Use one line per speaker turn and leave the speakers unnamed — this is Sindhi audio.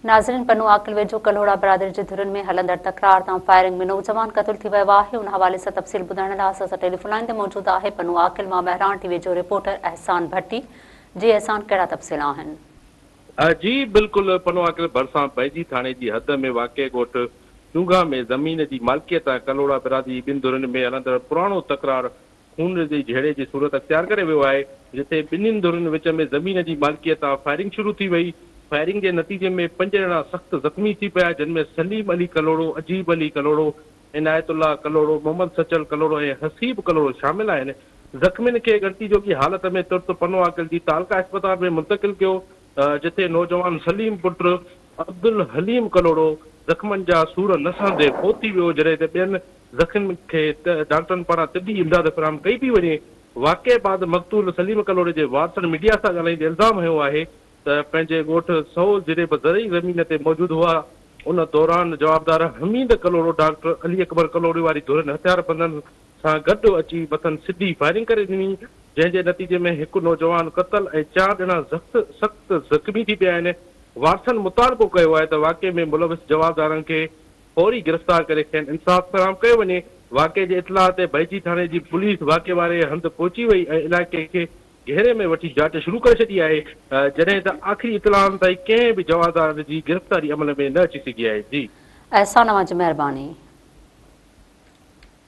ناظرين پنو عاقل ويجهو ڪلهوڙا برادري جي ڌرين ۾ هلندڙ تڪرار تان فائرنگ ۾ نوجوان قتل ٿي ويو آهي ان حوالي سان تفصيل ٻڌائڻ لاء اسان سان ٽيليفون لائين تي موجود آهي پنو عاقل مان مهراڻ ٽي وي جو رپورٽر احسان ڀٽي جي احسان ڪهڙا تفصيل آهن. جي
بلڪل پنو عاقل ڀرسان بيجي ٿاڻي جي حد ۾ واقع ڳوٺ چونگها ۾ زمين جي مالڪيت ۽ ڪلهوڙا برادري جي ٻن ڌرين ۾ هلندڙ پراڻو تڪرار خون ريزي جهيڙي جي صورت اختيار ڪري ويو آهي، جتي ٻنهين ڌرين وچ ۾ زمين جي مالڪيء تان فائرنگ شروع ٿي وئي، فائرنگ جي نتيجي ۾ پنج ڄڻا سخت زخمي ٿي پيا، جن ۾ سليم علي ڪلهوڙو، عجيب علي ڪلهوڙو، عنايت الله ڪلهوڙو، محمد سچل ڪلهوڙو ۽ حسيب ڪلهوڙو شامل آهن، زخمين کي ڳڻتي جوڳي حالت ۾ ترت پنو عاقل جي تعلقه اسپتال ۾ منتقل ڪيو، جتي نوجوان سليم پٽ عبدالحليم ڪلهوڙو زخمن جا سور نه سهندي فوت ٿي ويو، جڏهن ته ٻين. زخمين کي ڊاڪٽرن پاران طبي امداد فراهم ڪئي پئي وڃي، واقعي بعد مقتول سليم ڪلهوڙي جي وارثن ميڊيا سان ڳالهائيندي الزام هنيو آهي ته پنهنجي ڳوٺ سهول جريب زرعي زمين تي موجود هئا، ان دوران جوابدار حميد ڪلهوڙو ڊاڪٽر علي اڪبر ڪلهوڙي واري ڌرين هٿياربندن سان گڏ اچي مٿن سڌي فائرنگ ڪري ڏني، جنهن جي نتيجي ۾ هڪ نوجوان قتل ۽ چار ڄڻا زخت سخت زخمي ٿي پيا آهن، وارثن مطالبو ڪيو آهي ته واقعي ۾ ملوث جوابدارن کي فوري گرفتار ڪري کين انصاف فراهم ڪيو وڃي، واقعي جي اطلاع تي بئجي ٿاڻي جي پوليس واقعي واري هنڌ پهچي وئي ۽ علائقي کي گهيري ۾ وٺي جاچ شروع ڪري ڇڏي آهي جڏهن ته آخري اطلاعن تائين ڪنهن به جوابدار
جي
گرفتاري عمل ۾ نه اچي
سگهي
آهي جي احسان اوهان
جي
مهرباني.